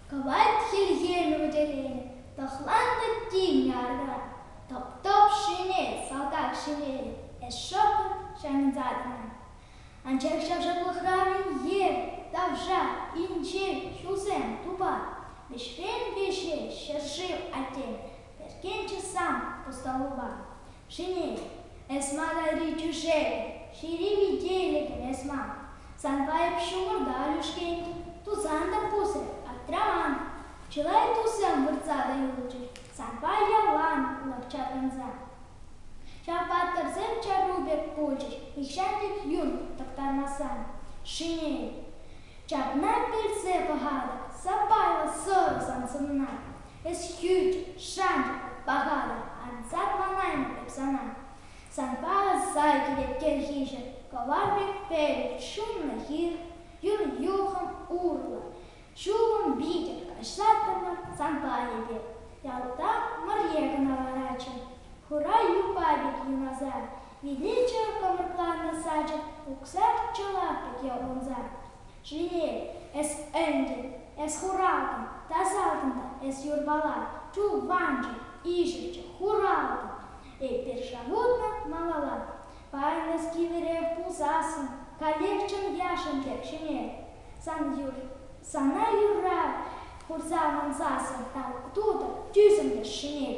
Кӑвайт хӗлхемӗ вӗтеленӗ, тӑхланнӑ тин ярра. Топ-топ ҫӗнел, салтак ҫӗнелӗ, эс шӑпӑрт ҫанӑнсатнӑ. Анчах ҫавшаклӑхран ев, тавҫа, инҫет, ҫулсем, тупа. Вӗҫрен веҫе ҫӗршыв, аттем, Ӗркелчӗ сан пустолупа шинель. Эс мар айри тӳшел, ҫири витейлӗхӗм эс мар. Санпа эп ҫумӑрта лӳшкен, тусан та пусӗ аптраман. Чылай тусем выртса та юлчӗҫ санпа ялан лӑх ҫаврӑнса. Ҫав паттӑрсем чару пек пулчӗҫ нихҫан-тик юн тӑхтармасан. Шинель. Ҫакна пӗлсе пӑхатӑп сапайлӑ сӑрӑ сан сӑнна. Эс хӳт, шанчӑк, пахалӑх, Ансат манаймӑп эп сана. Санпа аса килет кӗрхиҫӗ, Кӑвар пек пӗлӗт, шуннӑ хир, Юр юхӑм урлӑ. Ҫулӑм витӗр каҫлаттӑмӑр Санпа эпир. Ялта мӑрье кӑна ларатчӗ, Хура юпа пек юнаса. Иличчӗр кӑмӑлланӑ сачӑк, Уксак чӑла пӗке унса. Чи-и, эс ӗнтӗ, эс хуралтӑ, тасатӑн-та эс юрпала, ту-ванчӑк, ишӗлчӗ, хуралтӑ. Эпир шавутнӑ малалла, паян эс кивӗрех пулсассӑн каллех-чӑн яшӑн тек ҫӗнер. Сан юр, сана юрра хурса мансассӑн тав тутӑр, тӳсӗмлӗш ҫӗнер.